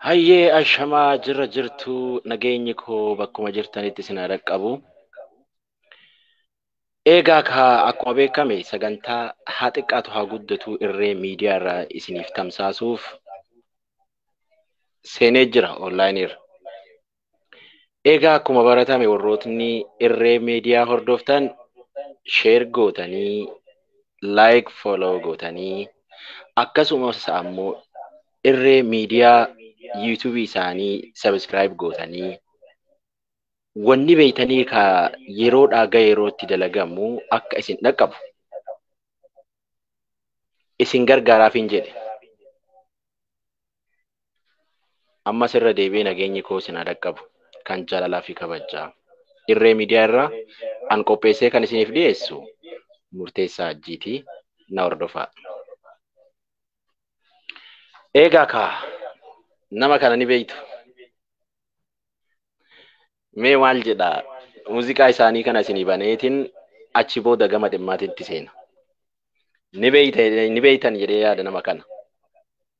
Hayyee ashamaa jirra jirtuu nageenyi koo bakkuma jirtanitti isin haa dhaqqabu. Eegaa kaa akkuma beekame sagantaa haa xiqqaatu haa guddatu irree miidiyaa irraa isiniif tamsaasuuf seenee jira onlaayinii irra. Egaa akkuma baratame warrootni irree miidiyaa hordoftan sheer gootanii laayik fooloo gootanii akkasumas ammoo irree miidiyaa yuutuubii isaanii sabiskiraayib gootanii wanni beeytanii ka yeroodhaa ga yerootti dalagamu akka isin dhaqqabu isin gargaaraafiin jedhe. Ammas irra deebi'ee nageenyi koo isin haa dhaqqabu kan jaalalaa fi kabajaa. Irree miidiyaa irraa an qopheessee kan isiniif dhiyeessu murteessaa ajjiiti na hordofaa. Eegaa kaa nama kana ni beektu. Mee maal jedha muuziqaa isaanii kana isinii baneetiin achi booda gama dhimmaatitti seena. Ni beektan jedhee yaada nama kana.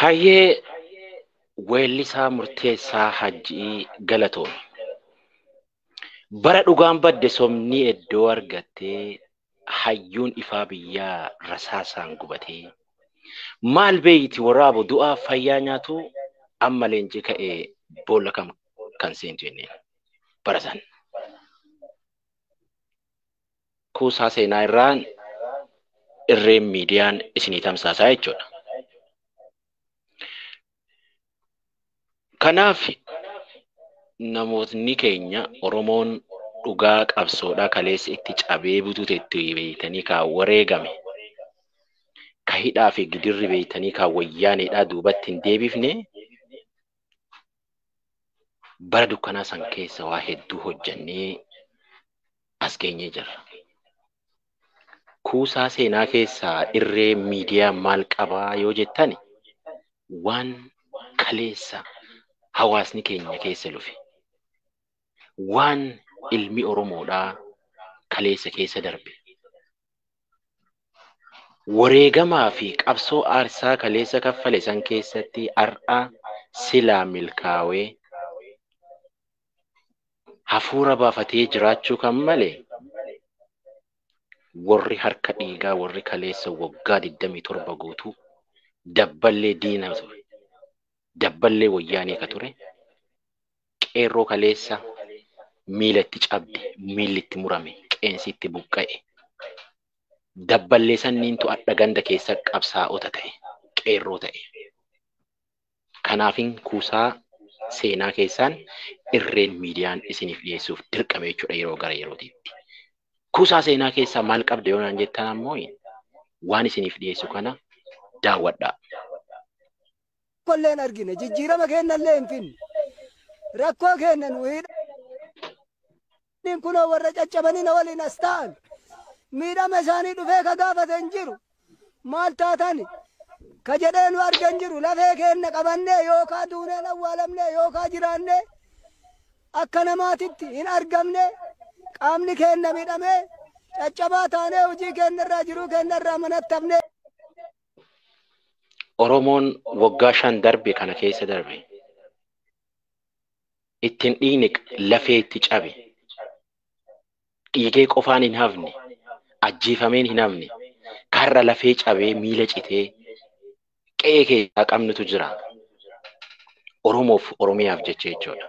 Hayyee weellisaa murteessaa hajji'ii galatoomi. Bara dhugaan badde sobni eddoo argattee hayyuun ifaa biyyaa rasaasaan gubatee maal beeyti waraabu du'aa fayyaa nyaatu amma leenci ka'e boolla kam kan seentu jenneen bara san. kuusaa seenaa irraa irreen miidiyaan isinii tamsaasaa jechuudha. Kanaaf namootni keenya Oromoon dhugaa qabsoodhaa kaleessa itti cabee butute itti beeytanii kaa wareegame ka hidhaa fi gidirri beeytanii kaa wayyaaneedhaa duubatti hin deebifne bara dukkanaa san keessa waa hedduu hojjannee as geenyee jirra. Kuusaa seenaa keessaa irree miidiyaa maal qabaa yoo jettani waan kaleessa hawaasni keenya keessa lufe waan ilmi Oromoodhaa kaleessa keessa darbe wareegamaa fi qabsoo aarsaa kaleessa kaffale san keessatti har'a silaa milkaawee hafuura baafatee jiraachuu kan male warri harka dhiigaa warri kaleessa waggaa 27 guutuu dabballee diina ture. Dabballee wayyaanee ka ture qeerroo kaleessa miila itti cabde, miilli itti murame, qeensi itti buqqa'e. Dabballee sanniintu adha ganda keessa qabsaa'ota ta'e, qeerroo ta'e. Kanaafin kuusaa seenaa keessaan irreen miidiyaan isiniif dhiyeessuuf dirqame jechuudha yeroo gara yerootiitti. Kuusaa seenaa keessaa maal qabda yoo naan jettan ammoo waan isiniif dhiyeessu kana daawwadhaa. tokkollee hin argine jijjiirama keennallee hin finne rakkoo keenna nu hidha. Nin kunoo warra caccabanii na waliin as taa'an. Miidhama isaanii dhufee ka gaafate hin jiru. Maal taatani? ka jedhee nu arge hin jiru. Lafee keenna qabannee yookaa duunee hin awwaalamne yookaa jiraannee akka namaatitti hin argamne. Qaamni keenna miidhamee caccabaa taanee hojii keenna irraa jiruu keenna irraa manatti hafne. Oromoon waggaa shan darbe kana keessa darbe. ittin dhiigni lafee itti cabe dhiigee qofaan hin hafne ajjeefameen hin hafne karra lafee cabee miila citee qe'ee keessaa qabnutu jira oromoof oromiyaaf jecha jechuudha.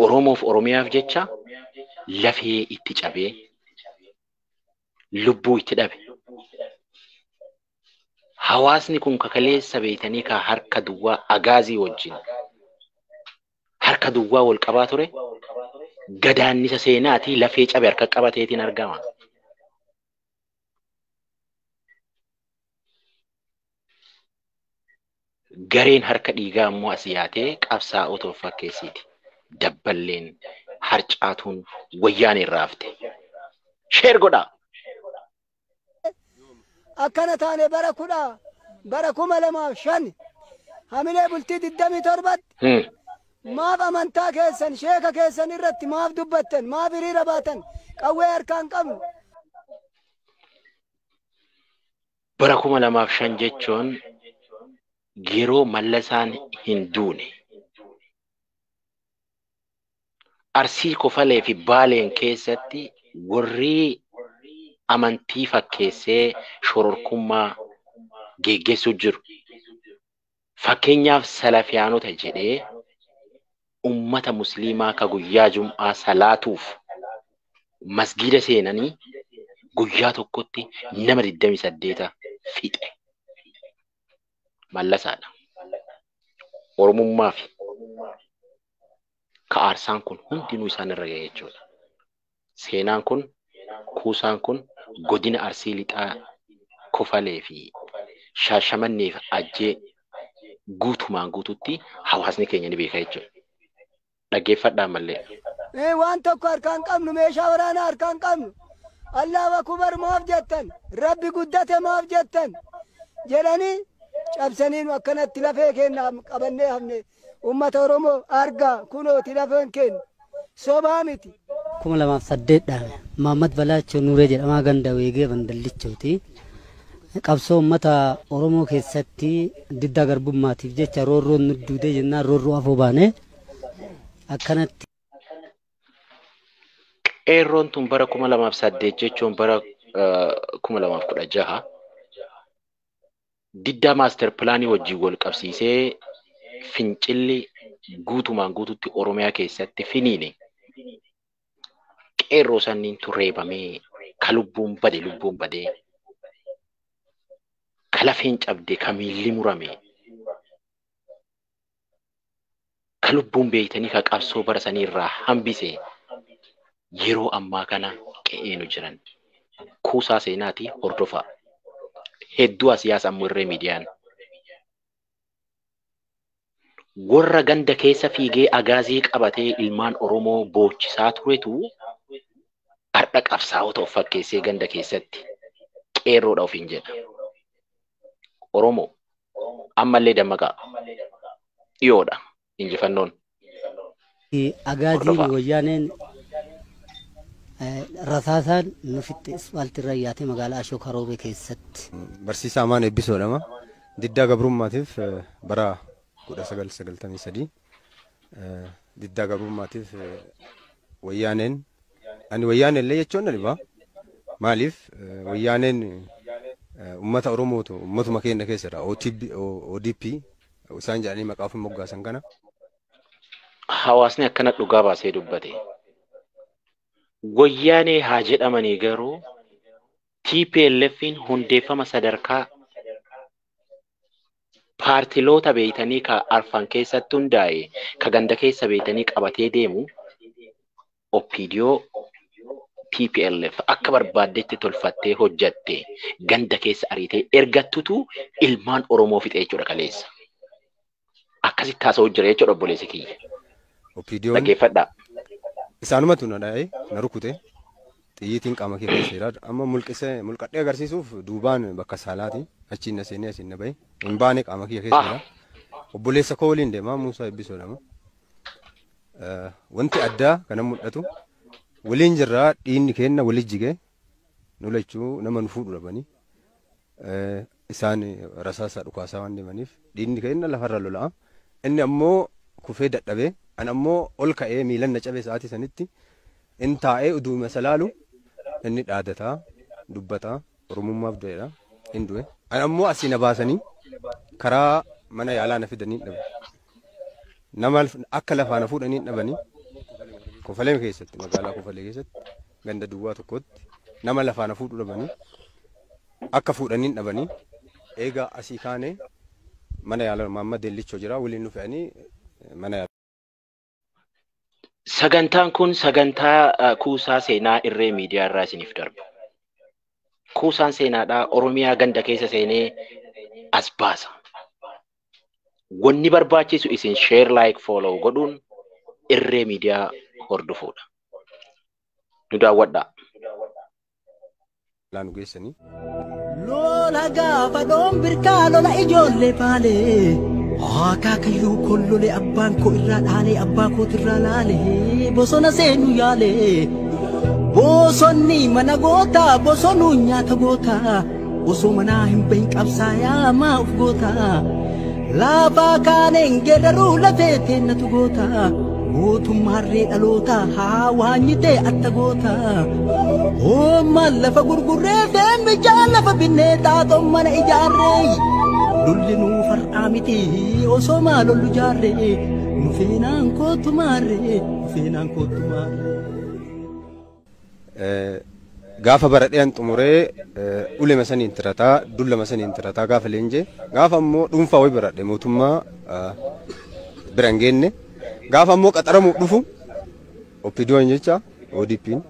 Oromoof Oromiyaaf jecha lafee itti cabee lubbuu itti dhabe. Hawaasni kun kakaleessa beeytanii kaa harka duwwaa agaazii wajjin harka duwwaa wal qabaa ture gadaannisa seenaatii lafee cabe harka qabateetiin argama. Gareen harka dhiigaa immoo as yaatee qabsaa'ota of fakkeessiiti. Dabballeen harcaatuun wayyaan irraa hafte. Sheer godhaa! akkana taane bara kudha bara kuma lamaaf shan hamilee bultii digdamii torbatti Maaf amantaa keessan, sheeka keessan irratti maaf dubbattan? Maaf hiriira baatan? Qawwee harkaa hin qabnu. Bara 2005 jechuun yeroo Mallasaan hin duune. Arsii Kofalee fi Baaleen keessatti warri amantii fakkeessee shororkummaa geggeessuu jiru. Fakkeenyaaf Salafiyaanota jedhee ummata Musliimaa ka guyyaa Jum'aa salaatuuf Masgiida seenanii guyyaa tokkotti nama 28 fixe. Mallasaa dha. Oromummaafi ka aarsaan kun hundinuu isaan irra gahe jechuudha. Seenaan kun, kuusaan kun godina Arsii Lixaa Kofalee fi Shaashamannee fi Ajjee guutumaan guutuutti hawaasni keenya ni beeka jechuudha. Dhaggeeffadhaa ammallee. Ee waan tokko harkaa hin qabnu meeshaa waraanaa harkaa hin qabnu Allaahu akubar maaf jettan rabbi guddate maaf jettan jedhanii cabsanii nu akkanatti lafee keenna qabannee hafne Ummata Oromoo argaa kunooti lafeen keenna. Sobaa miti. 2008 dhaame. Maammad Balaachoo Nuuree jedhamaa ganda Weegee Bandallichooti. Qabsoo ummata Oromoo keessatti diddaa garbummaatiif jecha roorroon nu duudee jennaan roorroo afoo baane. Akkanatti. Qeerroon tun bara 2008 jechuun bara 2016 Diddaa Maaster Pilaanii wajjin wal qabsiisee fincilli guutumaan guututti Oromiyaa keessatti finiine qeerroo sanniintu reebamee ka lubbuun bade lubbuun badee ka lafeen cabde ka miilli murame ka lubbuun beeytanii ka qabsoo bara sanii irraa hambise yeroo ammaa kana qe'ee nu jiran kuusaa seenaati hordofaa hedduu asiyaas ammo irree miidiyaan warra ganda keessa fiigee agaazii qabatee ilmaan oromoo boochisaa turetu hardha qabsaa'ota of fakkeessee ganda keessatti qeerroodha ofiin jedha oromoo Ammallee dammaqaa. Dhiyoodha injifannoon. Agaaziin wayyaaneen rasaasaan nu fixxe ispaaltii irra yaatee magaalaa Ashookaa Roobee keessatti. Barsiisaa Amaan Eebbisoo jedhama. Diddaa gabrummaatiif bara 1993 diddaa gabrummaatiif wayyaaneen ani wayyaaneen illee jechuun na dhiba. Maaliif wayyaaneen uummata Oromootu uummatuma keenya keessa jira. ODP isaan jedhanii maqaa ofii moggaasan kana. Hawaasni akkana dhugaa baasee dubbate. Wayyaanee haa jedhamanii garuu TPLF'n hundeeffama sadarkaa paartiloota beeytanii ka arfan keessatti hundaa'e ka ganda keessa beeytanii qabatee deemu OPDO TPLF akka barbaaddetti tolfattee hojjatte ganda keessa ariitee ergattutu ilmaan Oromoo fixe jechuudha kaleessa. Akkasitti haasa'u jira jechuudha obboleessi kiyya. OPDOn Dhaggeeffadhaa. isaanumatu na dha'ee na rukute. Xiyyiitiin qaama kee keessa jira. Amma mulqisee mulqadhee agarsiisuuf duubaan bakka saalaati. Achiin na seenee asiin na bahe. Hin baane qaama kiyya keessa jira. Obboleessa koo waliin deema Muusaa Ebbisoo jedhama. Eh, Wanti addaa kana mul'atu waliin jirraa dhiinni keenna wali jigee nu lachuu nama nu fuudhu dhabanii. Isaan rasaasa dhukaasaa waan deemaniif dhiigni keenna lafarra lola'a. Inni ammoo kufee dadhabe. An ammoo ol ka'ee miilan na cabe sa'aatii sanitti. In taa'ee uduuma isa laalu inni dhaadata, dubbata, Oromummaaf du'eedha. In du'e. An ammoo asii na baasanii karaa mana yaalaa na fidanii dhabe. Nama akka lafaa na fuudhanii dhabanii kofalee keessatti magaalaa kofalee keessatti ganda duwwaa tokkootti nama lafaa na fuudhu dhabani akka fuudhaniin dhabani eega asii kaane mana yaala maamma dellichoo jira waliin nu fe'anii mana yaala. Sagantaan kun sagantaa eh, kuusaa seenaa irree miidiyaa irraa isiniif darbu. Kuusaan seenaadhaa Oromiyaa ganda keessa seenee as baasa. Wanni barbaachisu isin share like follow godhuun irree miidiyaa hordofuudha. nu daawwadhaa. laa nu geessanii. Lola gaafa dhoon birkaa lola ijoollee baalee. Akaakayyuu kollole abbaan koo irraa dhaalee abbaa kootirraa laalee bosona seenu yaalee. Bosonni mana gootaa bosonuu nyaata gootaa. Osoo manaa hin bahin qabsaayaa maa of goota Laafaa kaaneen geeraruu lafee teennatu goota Mootummaarree dhaloota haa waanyitee atta goota Oommaan lafa gurgurree feen bijaa lafa binnee xaaxoon mana ijaarree Lolli nuu far'aa miti osoo maa lollu jaarree Nu feenaan kootu maarree nu feenaan kootu maarree Gaafa baradhean xumuree ulema saniin tirataa dullama saniin tirataa gaafa leenjee gaafa ammoo dhuunfaa wayi baradhe mootummaa bira hin geenne gaafa ammoo qaxaramuuf dhufu oppidoon jecha ODP'n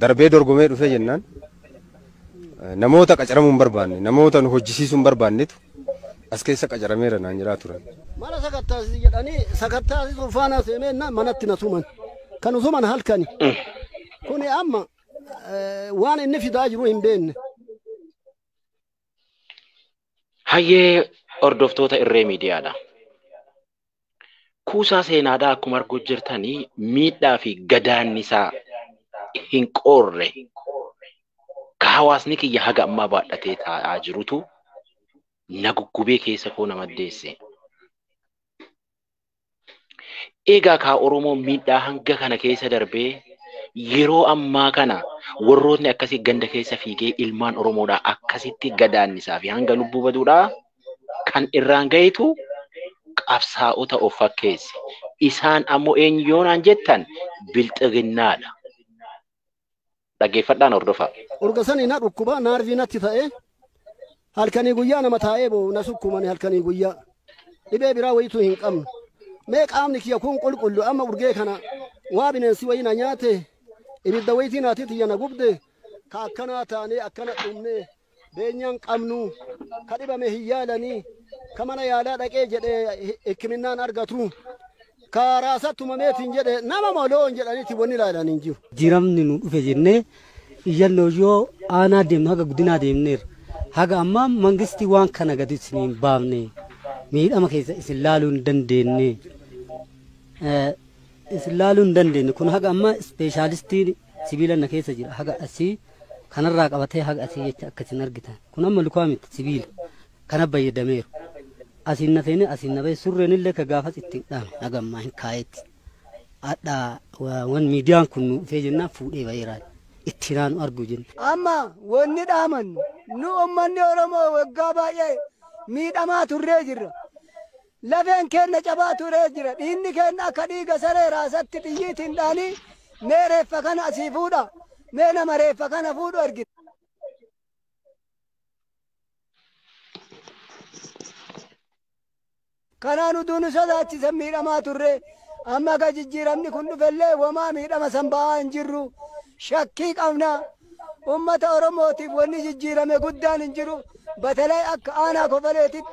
darbee dorgomee dhufee jennaan namoota qacaramuu hin barbaanne namoota nu hojjisiisuu hin barbaannetu As keessa qacarameera naan jedhaa turan. Mana sakattaasisi jedhanii sakattaasisuuf faanaa seenee jennaan manatti na tuman. Kan tuman halkani. Kuni amma eh, waan inni fidaa jiru hin beekne. Hayyee hordoftoota irree miidiyaadha. kuusaa seenaadhaa akkuma arguu jirtanii miidhaa fi gadaannisaa hin qoorre ka hawaasni kiyya haga ammaa baadhatee taa'aa jirutu na guggubee keessa koo na maddeesse. Egaa kaa Oromoo miidhaa hanga kana keessa darbee yeroo ammaa kana warrootni akkasii ganda keessa fiigee ilmaan Oromoodhaa akkasitti gadaannisaa fi hanga lubbuu baduudhaa kan irraan gahitu qabsaa'ota of fakkeesse. Isaan ammoo eenyu yoo naan jettan bilxiginnaadha. Dhaggeeffadhaan hordofaa. Urga sanii na dhukkuba naarvii natti ta'ee halkanii guyyaa nama taa'ee boo'u na sukkumani halkanii guyyaa dhibee biraa wayituu hin qabnu mee qaamni kiyya kun qulqullu amma urgee kana waa bineensi wayii na nyaate ibidda wayitii naatii tiyya na gubde ka akkanaa taanee akkana dhumnee beenyaa hin qabnu, ka dhibame hin yaalani, ka mana yaalaa dhaqee jedhe hikkiminnaan argatu, ka raasa tumameetiin jedhe nama moo loon jedhaniiti wanni ilaalan hin jiru. Jijjiiramni nu dhufe jennee iyyannoo yoo aanaa deemnu haga godinaa deemneerra. Haga ammaa mangistii waan kana gadi isin hin baafne, miidhama keessa isin laaluu hin dandeenye, isin laaluu hin dandeenye kun haga ammaa ispeeshaalistiin Sibiila na keessa jira haga asii kanarraa qabatee haga asii jecha akka isin argitan kun amma lukaa miti sibiila kana bayyadameeru asiin na seenee asiin na bahee surreen illee ka gaafas ittiin dhaame haga ammaa hin kaayetti hadha wan miidiyaan kun nu dhufee jennaan fuudhee baheeraan itti naanu argu jenna. Amma wanni dhaamannu nu ummanni Oromoo waggaa baay'ee miidhamaa turree jirra. Lafeen keenna cabaa turee jira. Dhiinni keenna akka dhiiga saree raasatti xiyyiitiin dhaanii mee reeffa kana asii fuudhaa. Mee nama reeffa kana fuudhu ergita. Kanaan uduu nu sodaachisan miidhamaa turre. Amma ka jijjiiramni kun dhufellee womaa miidhama san ba'aa hin jirru. Shakkii qabna. Ummata Oromootiif wonni jijjiirame guddaan hin jiru. Batalay akka aanaa kofaleetitti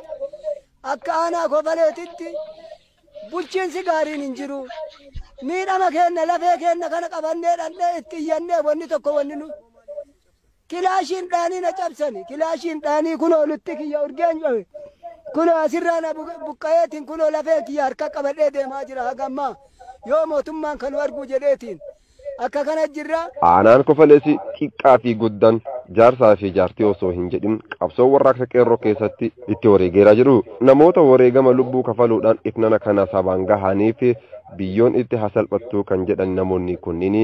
Akka Aanaa Kofaleetitti bulchiinsi gaariin hin jiru. Miidhama keenna lafee keenna kana qabannee dhandhee itti iyyannee wanni tokko wanni nu Kilaashiin dhaanii na cabsani. Kilaashiin dhaanii kunoo lutti kiyya urgeen cabe. Kunoo asirraa na bu- buqqa'eetiin kunoo lafeen kiyya harka qabadhee deemaa jira hagammaa. Yoo mootummaan kanu arguu jedheetiin. Akka kana jirra. Aanaan Kofalees xiqqaa fi guddaan, jaarsaa fi jaartii osoo hin jedhin qabsoo warraaqsa Qeerroo keessatti itti wareegeera jedhu. Namoota wareegama lubbuu kafaluudhaan itnana kana sabaan gahaniif biyyoon itti haa salphattuu kan jedhan namoonni kunniin,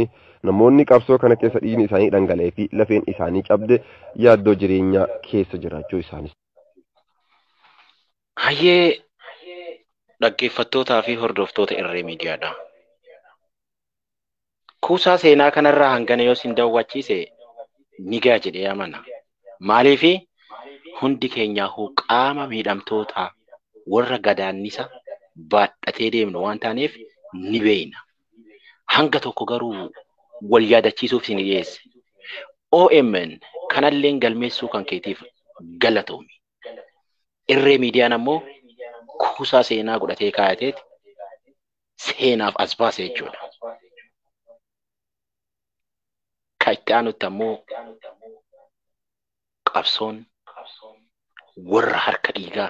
namoonni qabsoo kana keessa dhiigni isaanii dhangala'ee fi lafeen isaanii cabde yaaddoo jireenyaa keessa jiraachuu isaaniis. Hayyee dhaggeeffattootaa fi hordoftoota Irree Miidiyaadhaa! Kuusaa seenaa kanarraa hangana yoo sin dawwachiise nigaa jedhee amana. Maaliifi hundi keenyaahuu qaama miidhamtootaa warra gadaannisa baadhatee deemnu waan taaneef ni beeyna. Hanga tokko garuu wal yaadachiisuuf isin dhiyeesse. OMN kanalleen galmeessuu kan keetiif galatoomi. Irree Miidiyaan ammoo kuusaa seenaa godhatee kaayateeti seenaaf as baase jechuudha. Ka itti aanutti ammoo qabsoon warra harka dhiigaa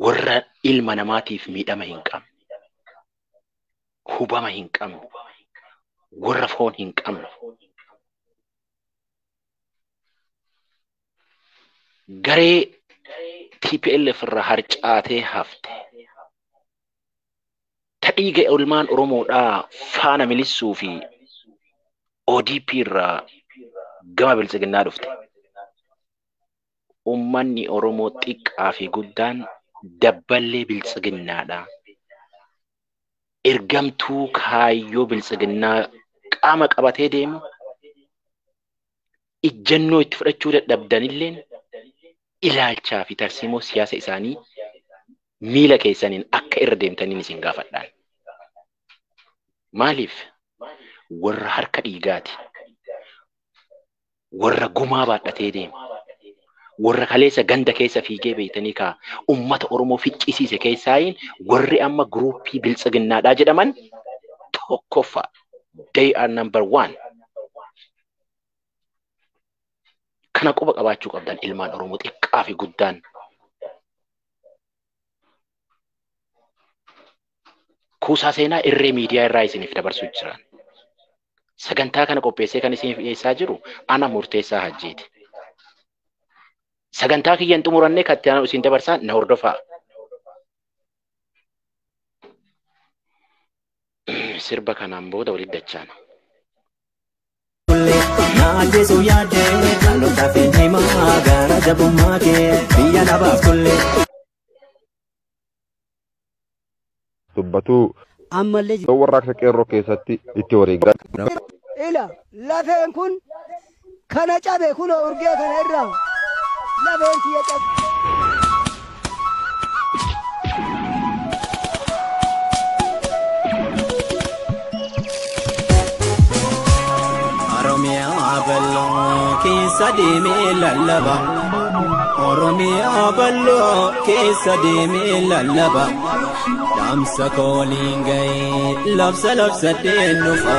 warra ilma namaatiif miidhama hin qabne hubama hin qabne warra foon hin qabne garee TPLF irraa harcaatee hafte ta dhiiga ilmaan Oromoodhaa faana milissuu fi ODP irraa gama biltsiginnaa dhufte. ummanni Oromoo xiqqaa fi guddaan dabballee biltsiginnaa dha. Ergamtuu kaayyoo biltsiginnaa qaama qabatee deemu ijjannoo itti fudhachuu dadhabdanilleen ilaalchaa fi tarsiimoo siyaasa isaanii miila keessaniin akka irra deemtaniin isin gaafadhaan. Maaliif warra harka dhiigaati. warra gumaa baadhatee deemu, warra kaleessa ganda keessa fiigee beektanii kaa ummata Oromoo ficcisiise keessaayiin warri amma guruuppii biltsiginnaadhaa jedhaman tokkoffaa. They are number one. Kana quba qabaachuu qabdan ilmaan Oromoo xiqqaa fi guddaan. kuusaa seenaa irree miidiyaa irraa isiniif dabarsuu jira. Sagantaa kana qopheessee kan isiniif dhiyeessaa jiru ana murteessaa hajjiiti. Sagantaa kiyya hin xumurannee kan itti aanu isin dabarsaa na hordofaa. Sirba kanaan booda walitti dachaana. Naajesu yaadee dhaloota fi himaa gaara jabummaa kee biyya dhabaaf tollee. dubbatu. Ammallee Yoo warraaqsa qeerroo keessatti itti wareegan. ila lafeen kun kana cabe kunoo urgee kana irraa lafeen kiyya cabe. Oromiyaa bal'oo keessa deemee lallaba. Oromiyaa bal'oo keessa deemee lallaba. Dhaamsa kooliin ga'ee labsa labsadhee nufa.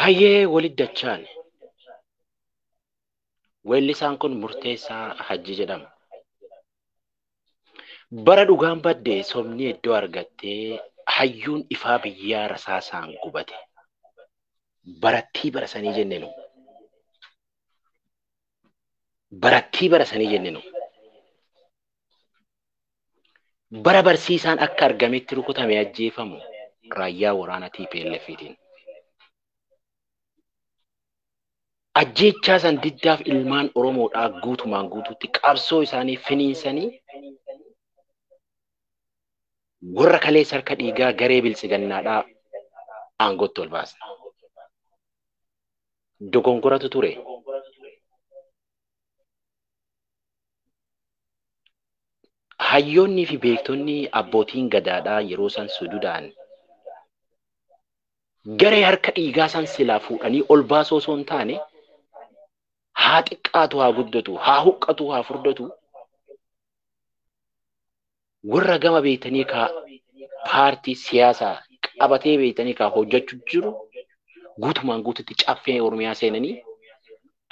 Hayyee walit dachaan. Weellisaan kun Murteessaa Hajji jedhama. Bara dhugaan badde sobni iddoo argattee hayyuun ifaa biyyaa rasaasaan gubate. Barattii bara sanii jenne nu. Barattii bara sanii jenne nu. bara barsiisaan akka argametti rukutame ajjeefamu raayyaa waraana TPLFtiin. Ajjeechaa san diddaaf ilmaan Oromoodhaa guutumaan guutuutti qabsoo isaanii finiinsanii warra kaleessa harka dhiigaa garee biltsigannaadhaa aangootti ol baasna. Dogongoratu ture. hayyoonnii fi beektonni abbootiin gadaadhaa yeroo san sujudaan garee harka dhiigaa san silaa fuudhanii ol baasoo osoo hin taane haa xiqqaatu haa guddatu haa huqqatu haa furdatu warra gama beektanii kaa paartii siyaasaa qabatee beektanii kaa hojjechuu jiru guutumaan guututti caffee Oromiyaa seenanii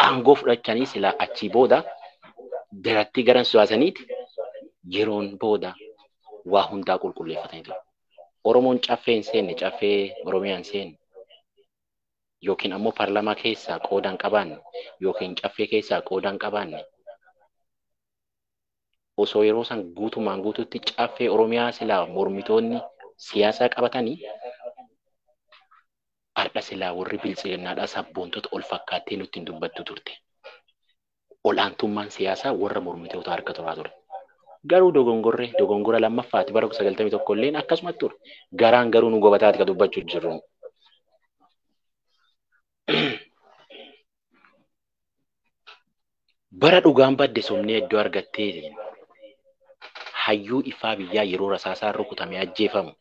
aangoo fudhachanii silaa achii booda darattii garan suyaasaniiti yeroon booda waa hundaa qulqulleeffatanii ture. Oromoon caffee hin seenne caffee Oromiyaa hin seenne yookiin ammoo paarlamaa keessaa qooda hin qabaanne yookiin caffee keessaa qooda hin qabaanne osoo yeroo san guutumaan guututti caffee Oromiyaa silaa mormitoonni siyaasaa qabatanii har'a silaa warri biltsiginnaadhaa sabboontota ol fakkaattee nutti hin dubbattu turte. Ol'aantummaan siyaasaa warra mormitoota harka turaa ture. Garuu dogongorree dogongora lammaffaati bara 91 illeen akkasuma ture. Garaan garuu nu gobataati ka dubbachuu jirru. Bara dhugaan badde sobnee iddoo argattee hayyuu ifaa biyyaa yeroo rasaasaan rukutamee ajjeefamu.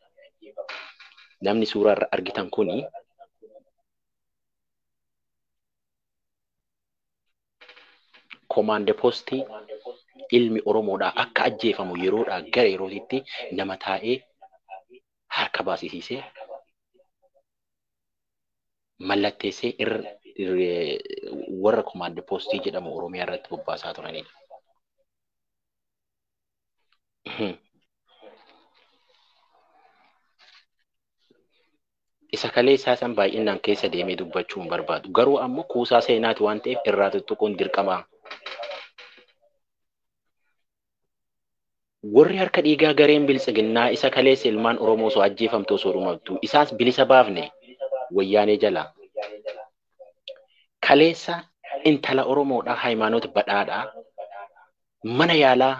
Namni suuraa irra argitan kuni komaande poostii ilmi Oromoodhaa akka ajjeefamu yeroodhaa gara yerootitti nama taa'ee harka baasisiisee mallatteessee irra warra komaand poostii jedhamu Oromiyaa irratti bobbaasaa turanidha. Isa kalee isaa san baay'inaan keessa deemee dubbachuu hin barbaadu. Garuu ammoo kuusaa seenaati waan ta'eef irraa tuttuquun dirqamaa. Warri harka dhiigaa gareen biltsiginnaa isa kaleessa ilmaan Oromoo osoo ajjeefamtuu osoo dhumattuu isaas bilisa baafne wayyaanee jalaa. Kaleessa intala Oromoodhaa Hayimaanoot Badhaadhaa mana yaalaa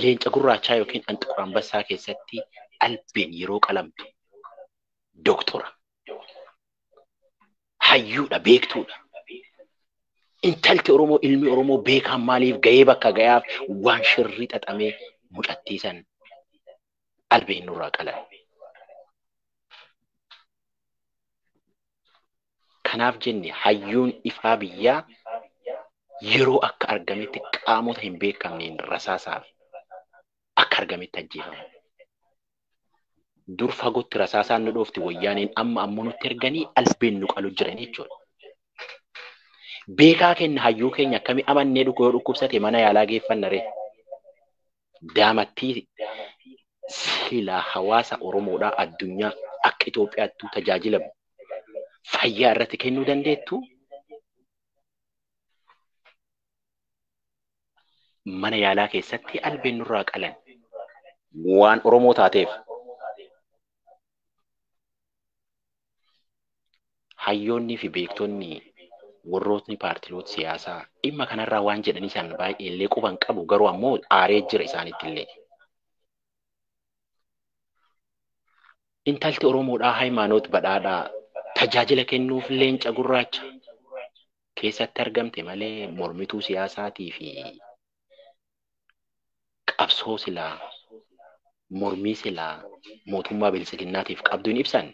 leenca gurraachaa yookiin Anxiqur Anbassaa keessatti albeen yeroo qalamtu doktora. hayyuudha beektuudha. Intalti Oromoo ilmi Oromoo beekaan maaliif gahee bakka gayaaf waan shirrii xaxamee mucattii san albee nurraa qalan. Kanaaf jenne hayyuun ifaa biyyaa yeroo akka argametti qaamota hin beekamneen rasaasaaf akka argametti ajjeefame. Dur fagootti rasaasaan nu dhoofti wayyaaneen amma ammoo nutti erganii albeen nu qalu jiran jechuudha. Beekaa keenya hayyuu keenya akkami amannee dhukku yoo dhukkubsate mana yaalaa geeffanna ree? Daamattii silaa hawaasa Oromoodhaa addunyaa akka Itoophiyaattuu tajaajila fayyaa irratti kennuu dandeettu mana yaalaa keessatti albeen nurraa qalan waan Oromoo taateef hayyoonnii fi beektonni warrootni paartiloota siyaasaa dhimma kanarraa waan jedhanii isaan baay'ee illee quban qabu garuu ammoo aaree jira isaanitti illee. Intalti Oromoodhaa Hayimaanoot Badhaadhaa tajaajila kennuuf leenca gurraacha keessatti argamte malee mormituu siyaasaatii fi qabsoo silaa mormii silaa mootummaa biltsiginnaatiif qabdu hin ibsanne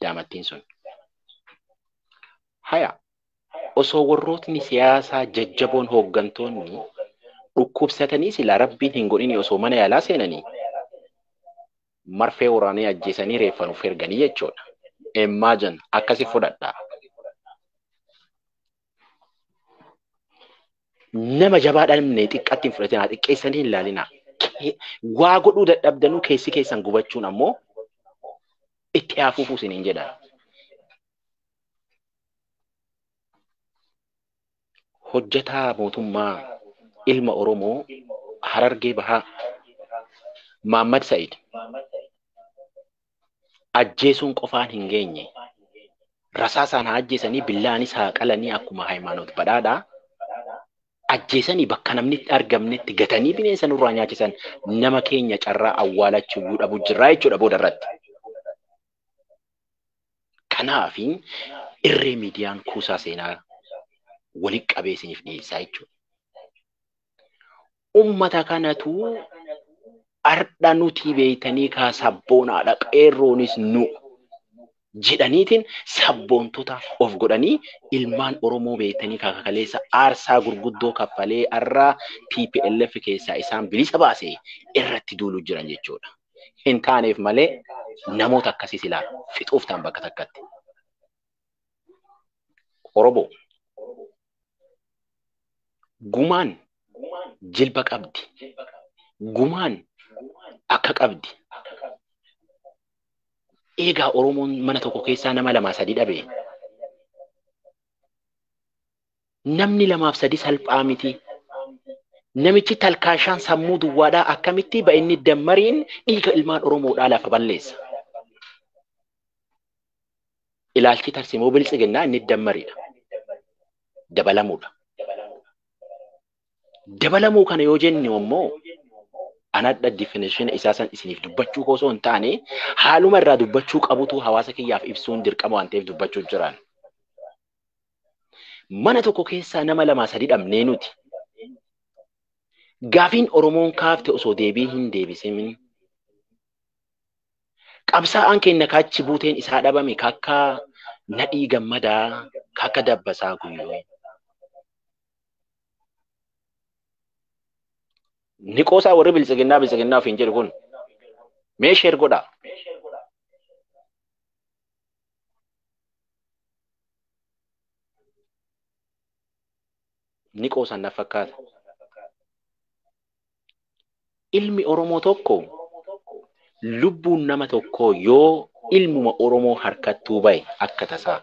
daamattiin sun. Haya osoo warrootni siyaasaa jajjaboon hooggantoonni dhukkubsatanii silaa rabbiin hin godhini osoo mana yaalaa seenanii marfee waraanee ajjeesanii reeffa nuuf erganii jechuudha. Imagine akkasi fudhadha. Nama jabaa dhabne xiqqatti hin fudhatinaa, xiqqeessanii hin laalinaa. Waa godhuu dadhabdanuu keessi keessan gubachuun ammoo itti haafuufuu isiniin jedha. hojjetaa mootummaa ilma Oromoo Harargee Bahaa Maammad Sa'id ajjeesuun qofaan hin geenye. Rasaasaan haa ajjeesanii billaanis haa qalanii akkuma Hayimaanoot Badhaadhaa ajjeesanii bakka namni itti argamnetti gatanii bineensa nurraa nyaachisan nama keenya carraa awwaalachuuyyuu dhabu jirraa jechuudha booda irratti. Kanaaf irree miidiyaan kuusaa seenaa walitti qabee isiniif dhiyeessaa jechuudha. Uummata kanatu har'a nuti beektanii kaa sabboonaadha qeerroonis nu jedhaniitiin sabboontota of godhanii ilmaan Oromoo beektanii kaa kakaleessa aarsaa gurguddoo kaffalee har'a TPLF keessaa isaan bilisa baase irratti duuluu jiran jechuudha. hin taaneef malee namoota akkasii silaa fixuuf ta'an bakka takkatti. Oromoo gumaan jilba qabdi. Gumaan akka qabdi. Eegaa Oromoon mana tokko keessaa nama lamaa sadii dhabee namni lamaaf sadi salphaa miti. Namichi talkaashaan sammuu duwwaadhaa akkamitti ba'inni dammariin dhiiga ilmaan Oromoodhaa lafa balleessa. Ilaalchi tarsimoo biltsiginnaa inni dammariidha. Dabalamuudha. Dabalamuu kana yoo jennu immoo anadha definition isaa san isiniif dubbachuu koo osoo hin taane haaluma irraa dubbachuu qabutu hawaasa kiyyaaf ibsuun dirqama waan ta'eef dubbachuu jiraan. Mana tokko keessaa nama lamaa sadi dhabnee nuti. Gaafiin Oromoon kaafte osoo deebii hin deebisimin. Qabsaa'aan keenya kaachi buuteen isaa dhabame kakka nadhii gammadaa kakka dabbasaa guyyoo. Ni qoosaa warri biltsiginnaa biltsiginnaa ofiin jedhu kun. Mee sheer godhaa. ni qoosan na fakkaata. Ilmi Oromoo tokko lubbuun nama tokkoo yoo ilmuma Oromoo harkattuu bahe akka tasaa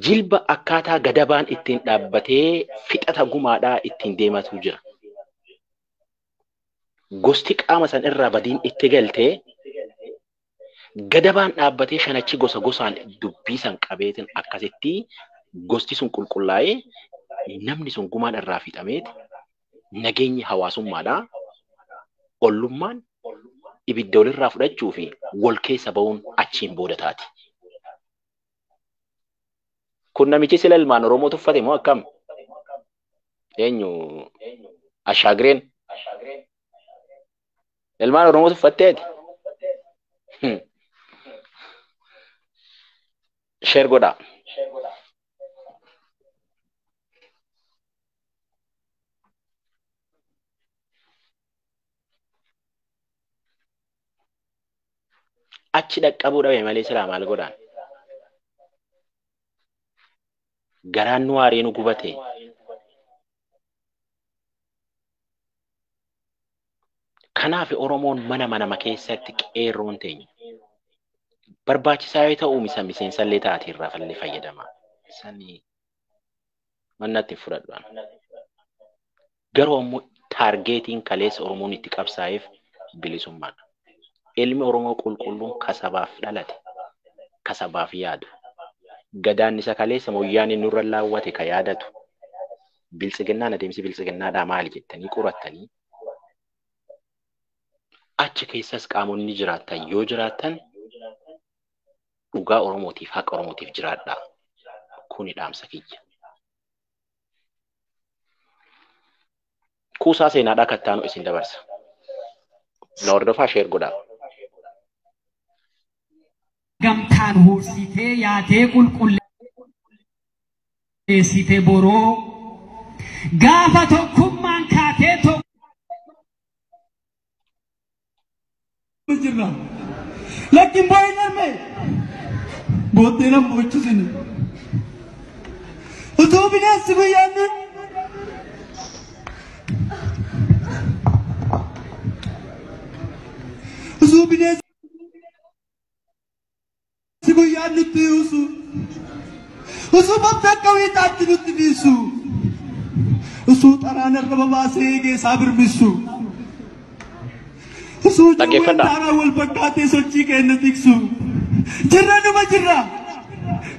jilba akkaataa gadabaan ittiin dhaabbatee fixata gumaadhaa ittiin deematu jira. Gosti qaama san irraa badiin itti galte Gadabaan dhaabbatee shanachi gosa gosaan dubbii san qabeetiin akkasitti gosti sun qulqullaa'ee namni sun gumaan irraa fixameet nageenyi hawaasummaadhaa ollummaan ibidda walirraa fudhachuu fi wal keessa ba'uun achiin booda taati. Kun namichi sila ilmaan Oromoo tuffate moo akkam? Eenyu? Ashaagireen? Ilmaan Oromoo tuffattee ati? Hmm. Sheer godhaa. Achi dhaqqabuu dhabe malee silaa maal godhaan? Garaan nu aaree nu gubate. Kanaaf Oromoon mana manama keessatti qeerroon teenya barbaachisaa yoo ta'u misa miseensallee taate irraa fallee fayyadama. Sanii mannatti fudhadhaan. Garuu ammoo taargeetiin kaleessa Oromoon itti qabsaa'eef bilisummaadha. Ilmi Oromoo qulqulluun ka sabaaf dhalate, ka sabaaf yaadu, Gadaan isa kaleessa Moyyaaneen nurra laawwate ka yaadatu, Biltsiginnaan adeemsi Biltsiginnaadhaa maali jettanii qorattanii, achi keessas qaamonni jiraattan yoo jiraattan dhugaa Oromootiif, haqa Oromootiif jiraadhaa. Kuni dhaamsa kiyya. Kuusaa seenaadhaa akka ittaanu isin dabarsa. Na hordofaa sheer godhaa. gamtaan huursitee yaatee qulqulleessite boroo gaafa tokkummaan kaatee tokko. jirra. Lakkin boo'ee narme booddee nan boochusini. Utuu bineensi guyyaan ni utuu bineensi Si guyyaan nutti yuusu. Usuu bofti akka wiixaatti nutti dhiisu. Usuu xaraan irra babaasee eegee isaa birmissu. Usuu jawween Dhaggeeffadhaa. daaraa wal fakkaatee sochii keenya tiksu. Jirra numa jirra.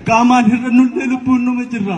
Qaamaan hir'annullee lubbuun numa jirra.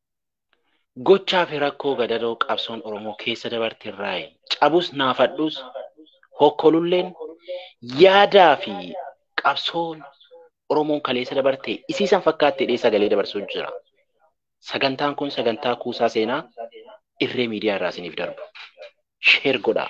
Gochaa fi rakkoo gadadoo qabsoon Oromoo keessa dabarte irraayi. Cabus naafadhus, hokkolulleen yaadaa fi qabsoon Oromoon kaleessa dabarte isii san fakkaatti jedhee sagalee dabarsuu jira. Sagantaan kun sagantaa kuusaa seenaa irree miidiyaa irraa isiniif darbu. Sheer godhaa.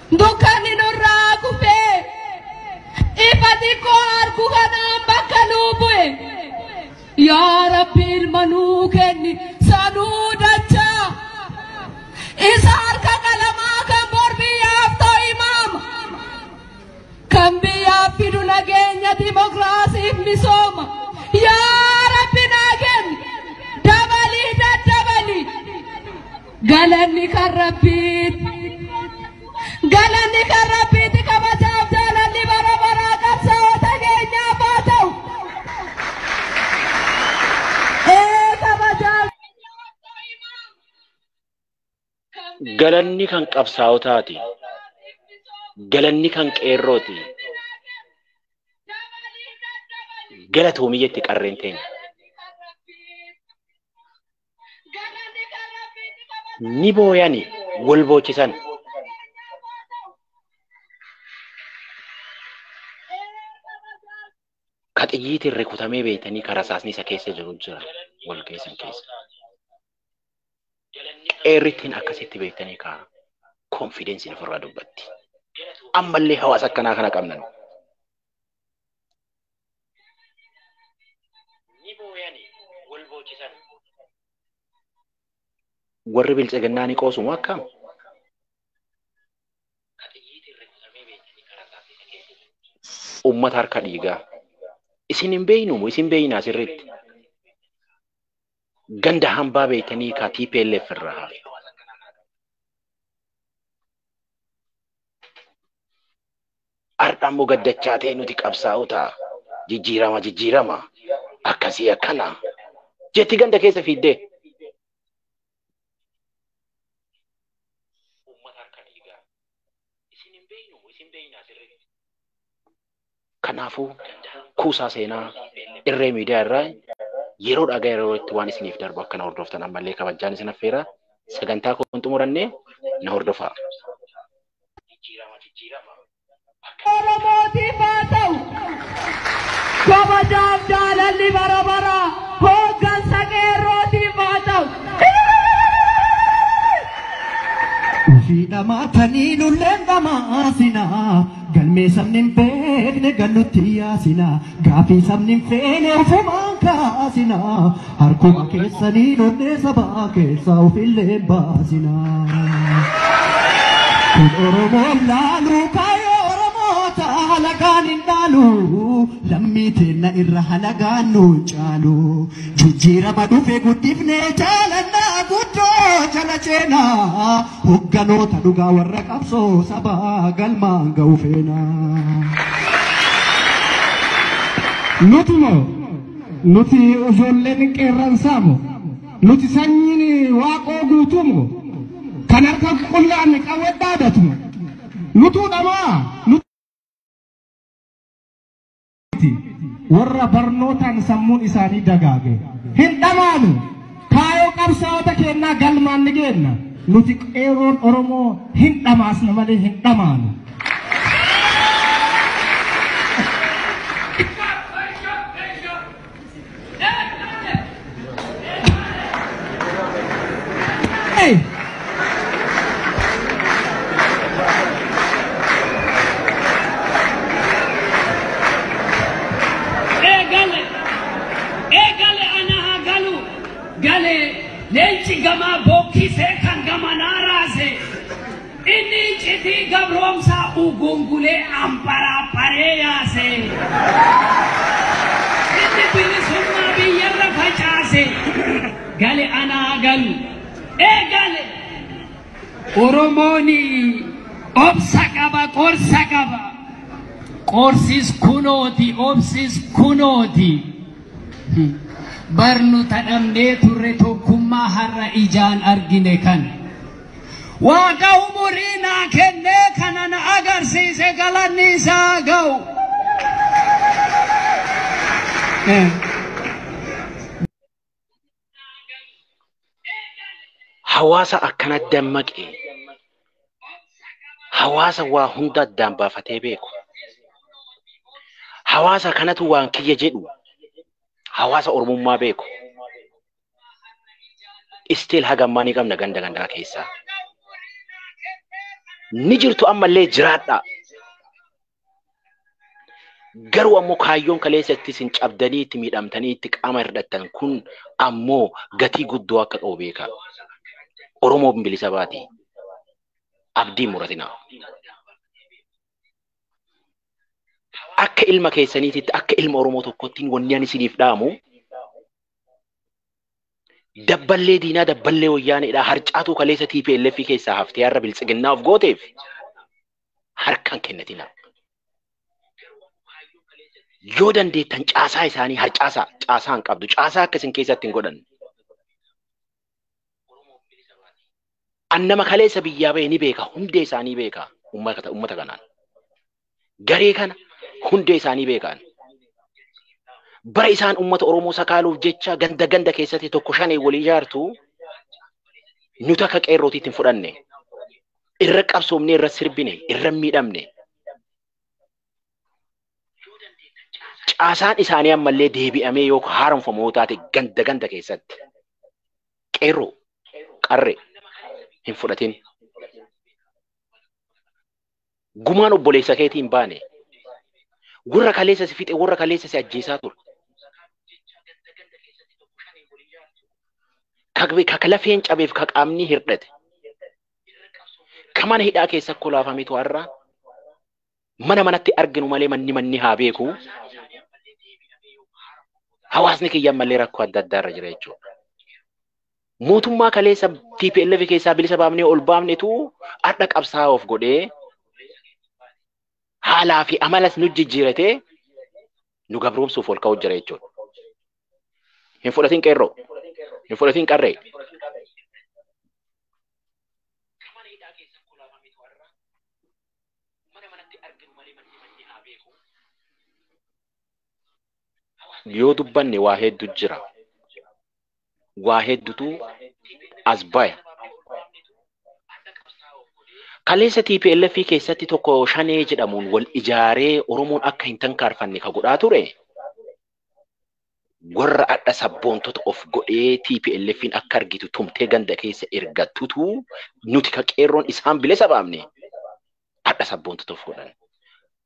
Dukkanni nurraa kufee ifa xiqqoo argu kanaan bakka nuu bu'e. Yaa Rabbi ilma nuu kenni sanuu dachaa. Isa harka qalamaa kan bor biyyaaf ta'u imaama. Kan biyyaaf fidu nageenya dimokiraasiif misooma. Yaa Rabbi naa kenni dabalii daddabalii. Galanni kan rabbiiti. Galanni kan rabbiiti kabajaaf jaalalli bara baraa qabsaa'ota keenyaaf haa ta'u. Ee kabajaaf. Galanni kan qabsaa'otaati. Galanni kan qeerrooti. Galatoomi jetti qarreen teenya. ni booyani wal boochisan. Ka xiyyiitiin rukutamee beektanii ka rasaasni isa keessa jiru jira wal keessan keessa. Qeerrittiin akkasitti beektanii ka konfidensiin ofirraa dubbatti. Ammallee hawaasa akkanaa kana qabna nu. ni booyani wal boochisan. Warri biltsiginnaa ni qoosu moo akkam? Ka xiyyiitiin rukutamee beektanii karaa isaatti isa keessatti. Uummata harka dhiigaa. Isin hin beeynu moo isin beeynaa sirriitti? Ganda hambaa beektanii ka TPLF irraa hafe. Har'a immoo gad dachaatee nuti qabsaa'ota jijjiirama jijjiirama akkasii akkana jetti ganda keessa fiiddee. Uummata harka dhiigaa. Isin hin beeknu isin beeknaa sirriitti. Kanaafuu kuusaa seenaa irree miidiyaa irraa yeroo dhagaa yeroo itti waan isiniif darbu akka na hordoftan ammallee kabajaan isin affeera. Sagantaa koo hin xumuranne na hordofaa. jijjiirama jijjiirama akka Oromootiif haa ta'u. Kabajaaf jaalalli bara bara hooggansa qeerrootiif haa ta'u. Ofii dhamaatanii nulleen dhamaasinaa galmee sabni hin beekne gallutti yaasinaa. Gaafii sabni hin feene ofumaan kaasinaa harkuma keessanii donnee sabaa keessaa ofillee hin baasinaa. Kun Oromoon laalu kaayoo Oromoota halagaan hin dhaalu lammii teenna irra halagaan nu hin caalu jijjiirama dhufe guddifnee jaalannaa guddoo jala ceenaa. Hogganoota dhugaa warra qabsoo sabaa galmaan ga'u feena. Nuti moo nuti ijoolleen qeerransaa moo nuti sanyiin waaqoo guutuu moo kan harka qullaan qawwee dhaabatu moo nutuu dhamaa nuti miti warra barnootaan sammuun isaanii dagaage hin dhamaanu kaayoo qabsaa'ota keennaa galmaan ni geenna nuti qeeroon oromoo hin dhamaasna malee hin dhamaanu. Hey! Eegale! Eegale ana haa galu! Gale! Leenci gamaa bookkisee kan gamanaa raase! Inni iccitii gabroomsaa ugungulee ambaraabaree yaase. Inni bilisummaa biyyarra facaase. Gale anaa galu. Ee gale. Oromooni obsa qaba qorsa qaba. Qorsis kunooti obsis kunooti. Barnoota dhabnee turre tokkummaa har'a ijaan argine kana. Waaqa umurii naa kennee kana na agarsiise galanni isaa haa ga'u. Hawaasa akkana dammaqe hawaasa waa hunda addaan baafatee beeku hawaasa kanatu waan kiyya jedhu hawaasa oromummaa beeku still haga ammaa ni qabna ganda gandaa keessaa. Ni jirtu ammallee jiraadhaa. Garuu ammoo kaayyoon kaleessa itti isin cabdanii itti miidhamtanii itti qaama hirdhattan kun ammoo gatii guddoo akka qabu beekaa. Oromoo bilisa baati. Abdii muratinaa. Akka ilma keessaniititti akka ilma Oromoo tokkotti wanni ani isiniif dhaamu Dabballee diinaa dabballee wayyaaneedhaa harcaatuu kaleessa TPLF keessaa haftee har'a biltsiginnaa of gooteef harkaan kennatinaa. Yoo dandeettan caasaa isaanii harcaasaa caasaa hin qabdu caasaa akka isin keessatti hin godhanne. An nama kaleessa biyyaa ba'e ni beeka, hundee isaanii beeka ummata ummata kanaan. Garee kana hundee isaanii beekaan. Bara isaan ummata Oromoo sakaaluuf jecha ganda ganda keessatti tokko shanee walii ijaartu nu takka qeerrootiitti hin fudhanne. Irra qabsoomnee irra sirbine, irra miidhamne. caasaan isaanii ammallee deebi'amee yoo haaromfamu yoo taate ganda ganda keessatti qeerroo qarree hin fudhatin. Gumaan obboleessa keetii hin baane warra kaleessa si fixe warra kaleessa si ajjeesaa ture. Ka lafeen cabeef ka qaamni hirdhate. Ka mana hidhaa keessa kolaafame to'arraa mana manatti arginu malee manni manni haa beeku. Hawaasni kiyya ammallee rakkoo adda addaa irra jira jechuudha. Mootummaa kaleessa TPLF keessaa bilisa baafnee ol baafnetu har'a qabsaa'aa of godhee haalaa fi amalas nu jijjiiratee nu gabroomsuuf ol ka'uu jira jechuudha. Hin fudhatin qeerroo, hin fudhatin qarree. mana manatti arginu malee manni manni haa beeku. Hawaasni Yoo dubbanne waa heddu jira. Waa heddutu as baya. adda qabsaa'uuf godhee Kaleessa TPLF keessatti tokko shanee jedhamuun wal ijaaree Oromoon akka hin tankaarfanne ka godhaa ture warra adha sabboontota of godhee TPLFin akka argitu tumtee ganda keessa ergattutu nuti ka qeerroon isaan bilisa baamne adha sabboontota of godhan.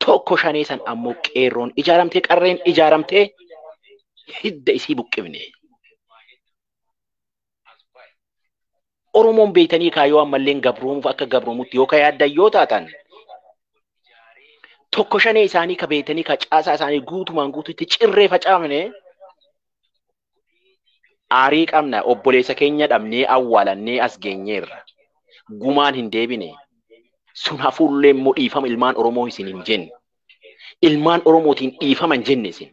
Tokko shanee san ammoo qeerroon ijaaramtee qarreen ijaaramtee hidda isii buqqifne. Oromoon beektanii kaa yoo ammalleen gabroomuuf akka gabroomutti yoo ka yaaddan yoo taatan tokko shanee isaanii ka beektanii ka caasaa isaanii guutumaan guututti cirree facaafne aarii qabna obboleessa keenya dhabnee awwaalannee as geenyeerra gumaan hin deebine sun hafuullee immoo dhiifama ilmaan Oromoo isin hin jenne ilmaan Oromootiin dhiifama hin jenne isin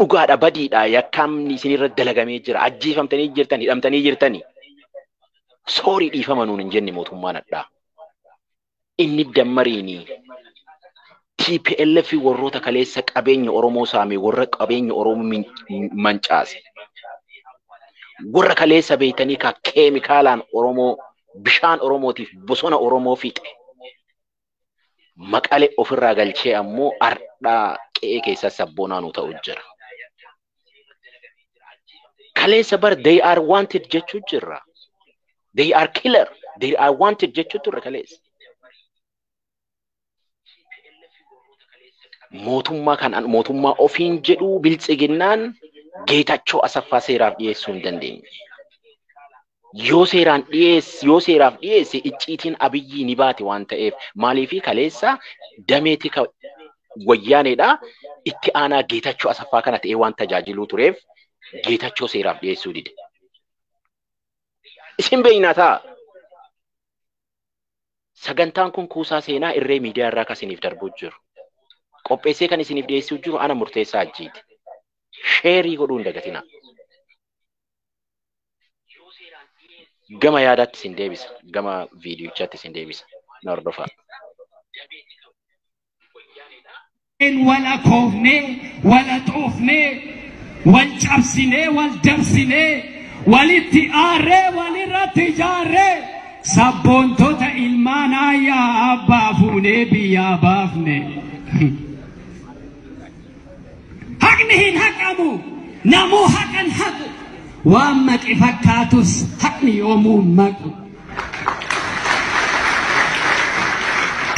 Dhugaadha badiidha yakkaamni isinirra dalagamee jira ajjeefamtanii jirtan hidhamtanii jirtani. Soorii dhiifama nuun hin jenne mootummaan addaa. Inni dammariini TPLF warroota kaleessa qabeenya Oromoo saame warra qabeenya Oromoo min- mancaase. Warra kaleessa beektanii ka keemikaalaan Oromoo bishaan Oromootiif bosona Oromoo fixe. maqale ofirraa galchee ammoo ardhaa qe'ee keessaa sabboonaa nu ta'u jira. Kaleessa bar they are wanted jechuu jirra. They are killer. They are wanted jechuu turre kaleessa. Mootummaa kan mootummaa ofiin jedhu biltsiginnaan geetachoo asaffaa seeraaf dhiyeessuu hin dandeenye. yoo seeraan dhiyeesse yoo seeraaf dhiyeesse icciitiin abiyyii ni baati waan ta'eef maaliifii kaleessa damee tika wayyaaneedha itti aanaa geetachoo asaffaa kana ta'ee waan tajaajiluu tureef geetachoo seeraaf dhiyeessuu dide. Isin beeknaa ta'a. Sagantaan kun kuusaa seenaa irree miidiyaa irraa kan isiniif darbuu jiru. Qopheessee kan isiniif dhiyeessuu jiru ana murteessaa ajjiiti. Sheerii godhuu hin dagatinaa. Gama yaadaatti isin deebisa. Gama viidiyochaatti isin deebisa. Na hordofaa. wal akoofnee, wal haxoofnee, wal cabsinee, wal dabsinee, walitti aarree, walirratti ijaarree, sabboontota ilmaan aayyaa abbaa fuunee biyyaa baafne. Haqni hin haqamu. Namuu haqan haqu. Waan maqi fakkaatus haqni yoomuu hin maqu.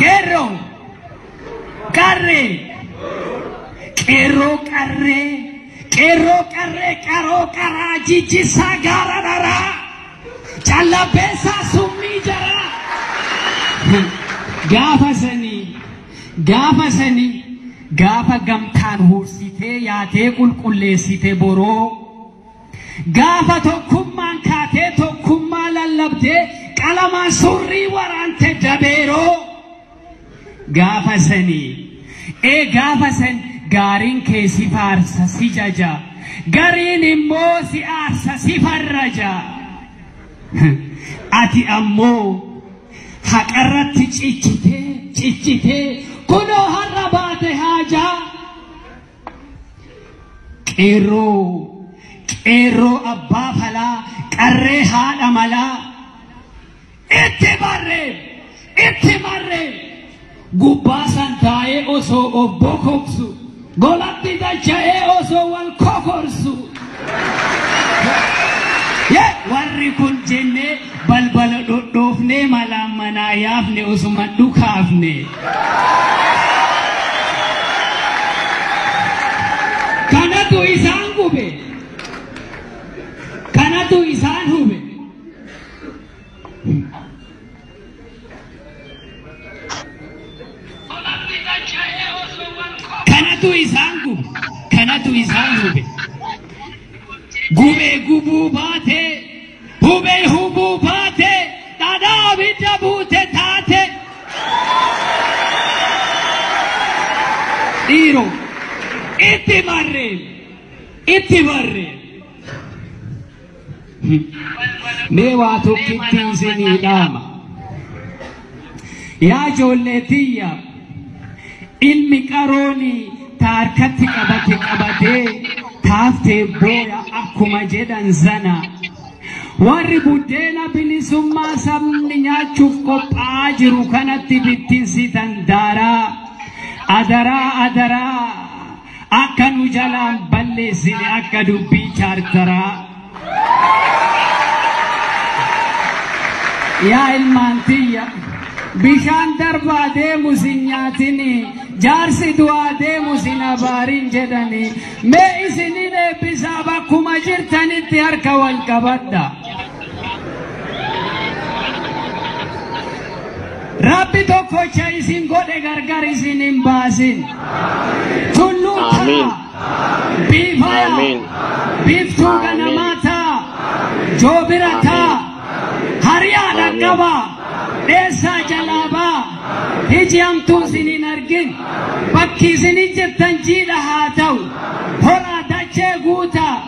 Qeerroo qarree qeerroo qarree qeerroo qarree qaroo qaraa jijjisaa gaara dharaa callabbeessaa summii jaraa gaafa sanii Gaafa sani gaafa gamtaan huursitee yaatee qulqulleessite boroo gaafa tokkummaan kaatee tokkummaa lallabdee qalamaan surrii waraante dabeeroo gaafa sani ee gaafa san gaariin kee si faarsa si jaja gariin immoo si aarsa si farraja ati ammoo Haqarratti cichite, cichite, kunoo har'a baate haajaa. Qeerroo, qeerroo abbaa falaa, qarree haadha malaa. Itti barree, itti barree. Gubbaa san taa'ee osoo of bokoksu, golatti dacha'ee osoo wal kokorsu. Yee! Warri kun jennee balbala dhodhoofnee malaan manaa yaafne osuma dhukaafne. Kanatu isaan gube. Kanatu isaan hube. Kanatu isaan gube. Kanatu isaan gube. Gubee gubuu baate. Hubee hubuu baate. Dhadhaa abidda buute taate. Dhiiro. Itti marreen. Itti marreen. Mee waa tokkitti isinii dhaama. Yaa ijoollee tiyya ilmi qarooni ta harkatti qabate qabatee taaftee booya akkuma jedhan sana. Warri buddeena bilisummaa sabni nyaachuuf qophaa'aa jiru kanatti bittinsitan daaraa. Adaraa adaraa. Akka nu jalaan balleessine akka dubbii chaartaraa. Yaa ilmaan tiyya bishaan darbaa deemu sin nyaatini jaarsi du'aa deemu sin abaarin jedhani mee isinin eebbisaa bakkuma jirtanitti harka wal qabadha. Rabbi tokkocha isin godhe gargar isin hin baasin. Tulluu ta'a. Amiin. Biifaya. Amiin. Biiftuu Amiin. ganamaa ta'a. Joobira ta'a. Hariyaa Amiin. dhaqqaba. Dheessaa jalaa ba'a. Iji hamtuu isin hin argin. Bakki isin hin jirtan jiidha haa ta'u. Horaa dachee guutaa.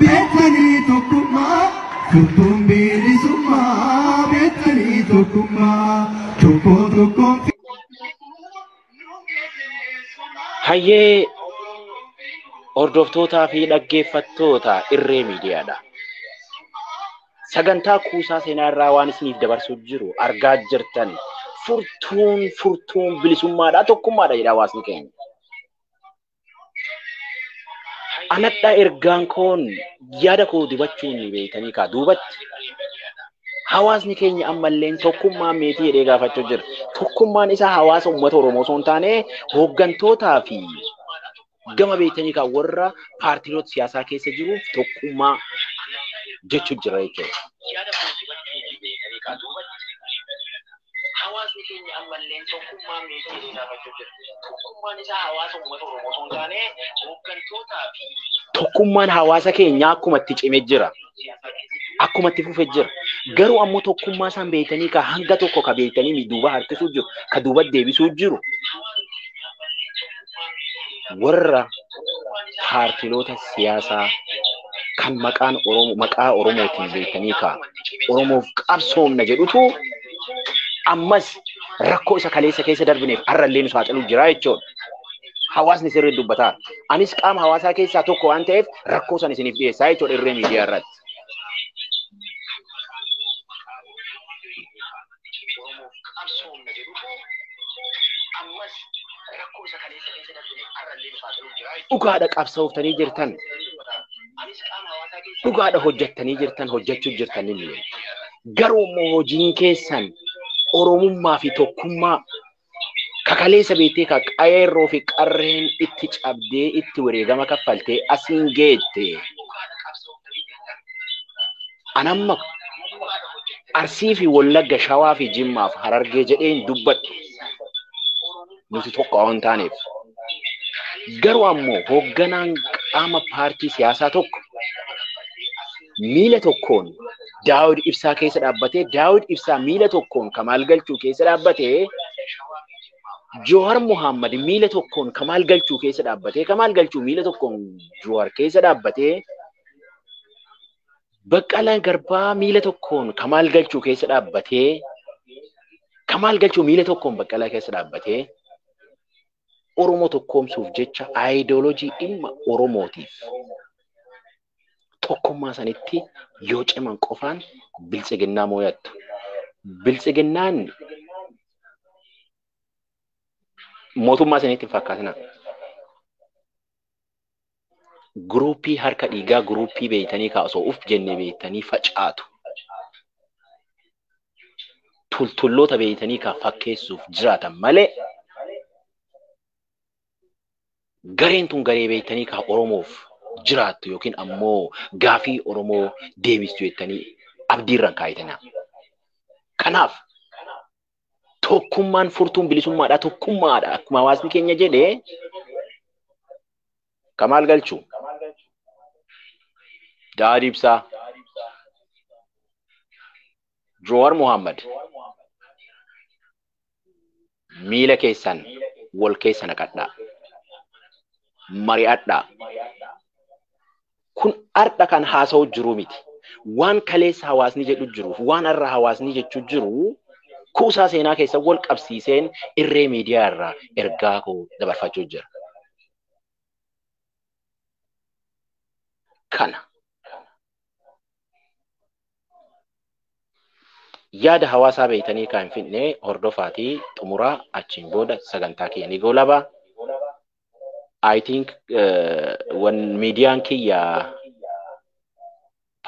Beektanii tokkummaa furtuun bilisummaa beektanii tokkummaa tokko tokkoon Hayyee hordoftootaa fi dhaggeeffattoota irree miidiyaadha. Sagantaa kuusaa seenaa irraa waan isiniif dabarsuu jiru argaa jirtan furtuun furtuun bilisummaadha tokkummaadha jedha hawaasni keenya. anadha ergaan koon yaada koo dibachuun ni beektanii kaa duubatti hawaasni keenya ammalleen tokkummaa meetii jedhee gaafachuu jira. Tokkummaan isaa hawaasa uummata Oromoo osoo hin taane hooggantootaa fi gama beektanii kan warra paartiiloota siyaasaa keessa jiruuf tokkummaa jechuu jira jechuudha. Hawaasni keenya ammalleen tokkummaan meesheelee gaafachuu jira. Tokkummaan isaa hawaasa uummata Oromoo osoo hin taane hooggantootaa fi Tokkummaan hawaasa keenyaa akkuma itti cime jira. siyaasaa keessatti Akkuma itti fufe jira. Garuu ammoo tokkummaa isaan beektanii ka hanga tokko ka beektanii duuba harkisuu jiru, ka duuba deebisuu jiru. hawaasni keenya ammalleen tokkummaa warra paartiloota siyaasaa kan maqaan Oromoo maqaa Oromootiin beektanii kaa Oromoof qabsoomna jedhutu ammas rakkoo isa kaleessa keessa darbineef har'allee nu saaxiluu jira jechuudha. Hawaasni sirrii dubbataa. Anis qaama hawaasaa keessaa tokko waan ta'eef rakkoo san isiniif dhiyeessaa jechuudha irree miidiyaa irratti. Oromoof qabsoomna jedhutu ammas rakkoo isa kaleessa keessa darbine har'allee nufaa ta'uu jira. Dhugaadha qabsooftanii jirtan. Anis qaama hawaasaa keessa Dhugaadha hojjettanii jirtan hojjechuu jirtan inni. Garuu immoo hojiin keessan Oromummaa fi tokkummaa kakaleessa beektee ka qeerroo fi qarreen itti cabdee itti wareegama kaffaltee asiin geette. Anamma Arsii fi Wallagga Shawaa fi Jimmaaf Harargee jedhee hin dubbadhu. Nuti tokko waan taaneef. Garuu ammoo hoogganaan qaama paartii siyaasaa tokko miila tokkoon Daawud Ibsaa keessa dhaabbatee Daawud Ibsaa miila tokkoon Kamaal Galchuu keessa dhaabbatee Jawar Muhammad miila tokkoon Kamaal Galchuu keessa dhaabbatee Kamaal Galchuu miila tokkoon Jawar keessa dhaabbatee Baqqalaan Garbaa miila tokkoon Kamaal Galchuu keessa dhaabbatee Kamaal Galchuu miila tokkoon Baqqalaa keessa dhaabbatee Oromoo tokkoomsuuf jecha aayidooloojii dhimma Oromootiif Tokkummaa sanitti yoo ciman qofaan biltsiginnaa mooyattu. Biltsiginnaan mootummaa isinitti hin fakkaatina. Guruuppii harka dhiigaa guruuppii beeytanii kaa osoo uf jenne beeytanii facaatu. Tultulloota beeytanii kaa fakkeessuuf jiraatan malee gareen tun garee beektanii kaa Oromoof jiraattu yookiin ammoo gaafii Oromoo deebistu jettanii abdiirraan kaayitanii. Kanaaf tokkummaan furtuun bilisummaadha tokkummaadha akkuma hawaasni keenya jedhe ka maal galchu daadii ibsaa Joowar Muhammad miila keessan wal keessa naqadhaa. Mari'adhaa. Kun har'a kan haasa'u jiru miti. Waan kaleessa hawaasni jedhu jiruuf waan har'a hawaasni jechuu jiru kuusaa seenaa keessa wal qabsiiseen irree miidiyaa irraa ergaa koo dabarfachuu jira. Kana. Yaada hawaasaa beektanii kan hin fidne hordofaatii xumuraa achiin booda sagantaa kiyya ni goolaba. I think wan miidiyaan kiyya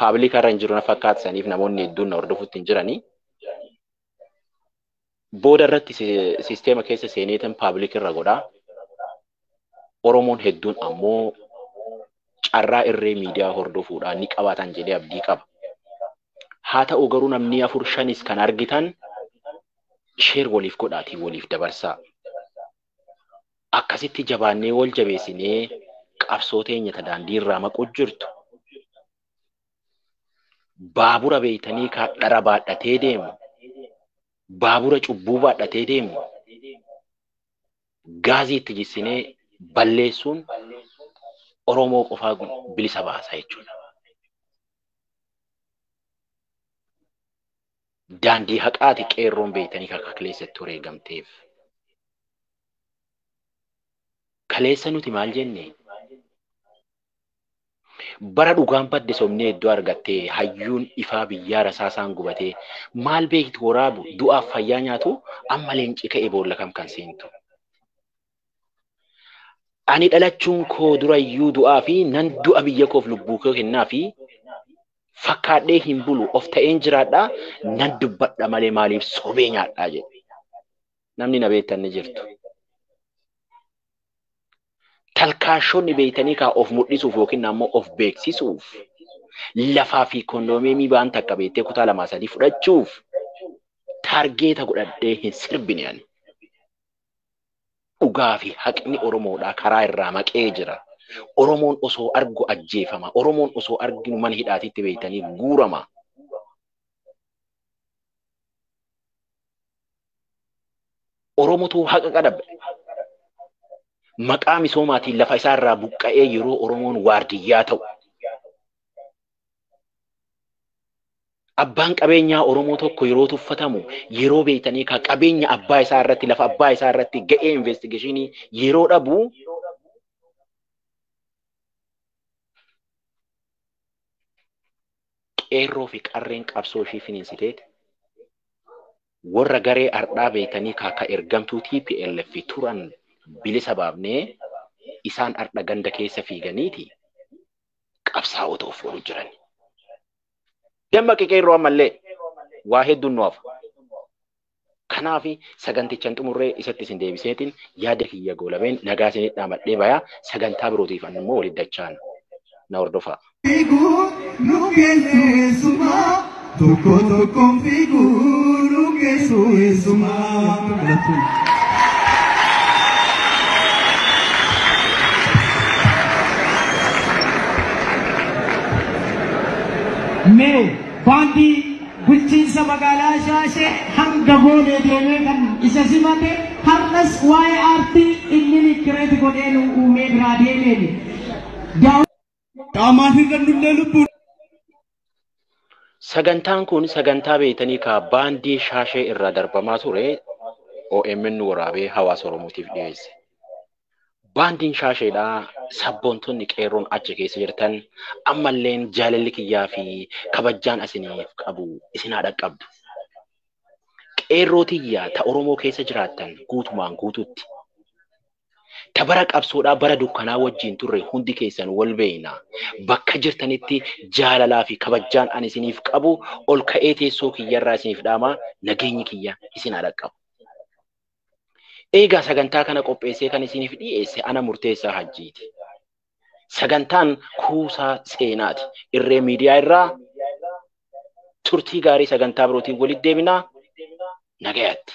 paabilika irra hin jiru na fakkaata saniif namoonni hedduun na hordofutti hin jiranii. booda irratti sisteema keessa seeneetan paabilik irra godhaa. Oromoon hedduun ammoo carraa irree miidiyaa hordofuudhaan ni qabaatan jedhee abdii qaba. Haa ta'u garuu namni afur shanis kan argitan sheer waliif godhaatii waliif dabarsaa. Akkasitti jabaannee wal jabeessinee qabsoo teenya ta daandii irraa maquu jirtu Baabura beeytanii kaa dhara baadhatee deemu, baabura cubbuu baadhatee deemu, gaazii itti jissinee balleessuun Oromoo qofaa bilisa baasa jechuudha. Daandii haqaati qeerroon beeytanii kaa akka kaleessa itti wareegamteef. Kaleessa nuti maal jenne? Bara dhugaan badde sobnee iddoo argattee hayyuun ifaa biyyaa rasaasaan gubatee maal beekti woraabu du'aaf fayyaa nyaatu amma leenci ka'e boolla kam kan seentu. Ani dhalachuun koo durayyuu du'aa fi nan du'a biyya koof lubbuu koo kennaa fi fakkaadhee hin bulu of ta'een jiraadhaa nan dubbadha malee maaliif sobee nyaadhaa jedhe. Namni na beektan ni jirtu. Talkaashonni beektanii kaa of mul'isuuf yookiin ammoo of beeksisuuf lafaa fi kondoomiyemii baan takka beektee kutaa lamaa sadii fudhachuuf taargeeta godhadhee hin sirbine ani. Dhugaa fi haqni Oromoodhaa karaa irraa maqee jira. Oromoon osoo argu ajjeefama. Oromoon osoo arginu mana hidhaatitti beektanii guurama. Oromotuu haqa qadabbe. Maqaa misoomaatiin lafa isaa irraa buqqa'ee yeroo Oromoon waardiyyaa ta'u. Abbaan qabeenyaa Oromoo tokko yeroo tuffatamu yeroo beektanii ka qabeenya abbaa isaa irratti lafa abbaa isaa irratti ga'ee investigeeshinii yeroo dhabu qeerroo fi qarreen qabsoo ishii finiinsiteeti warra garee ardhaa beeytanii kaa ka ergamtuu tplf turan bilisa baafnee isaan ardha ganda keessa fiiganiiti qabsaa'ota of godhu jiran. Dammaqi qeerroo ammallee waa hedduun nu hafa. Kanaaf sagantichan xumurree isatti isin deebiseetiin yaada kiyya goolabeen nagaa isin dhaamadhee bayaa sagantaa birootiif annu immoo walitti dachaan na hordofaa. Fiiguu nu geessu eessumaa tokko tokkoon fiiguu nu geessu eessumaa. Mee baandii Bulchiinsa magaalaa Shaashee hanga Boolee deemee kan isa simate har'as waa'ee aartii inni likkireeti godhee nuu uumee biraa deemeeni. Daawwii. Qaamaan hir'annullee lubbuun. Sagantaan kun sagantaa beektanii kaa baandii shaashee irraa darbamaa ture OMN waraabee hawaasa Oromootiif dhiyeesse. Baandiin shaasheedhaa sabboontonni qeerroon achi keessa jirtan ammalleen jaalalli kiyyaa fi kabajjaan isiniif qabu isin haa dhaqqabdu. Qeerroo tiyyaa ta Oromoo keessa jiraattan guutumaan guututti. Ta bara qabsoodhaa bara dukkanaa wajjin turre hundi keessan wal beeyna. Bakka jirtanitti jaalalaa fi kabajjaan ani isiniif qabu ol ka'ee teessoo kiyyarraa isiniif dhaama nageenyi kiyya isin haa dhaqqabu. Eegaa sagantaa kana qopheessee kan isiniif dhiyeesse ana murteessaa hajjiiti. Sagantaan kuusaa seenaati. Irree miidiyaa irraa turtii gaarii sagantaa birootiin walitti deebinaa nagayatti.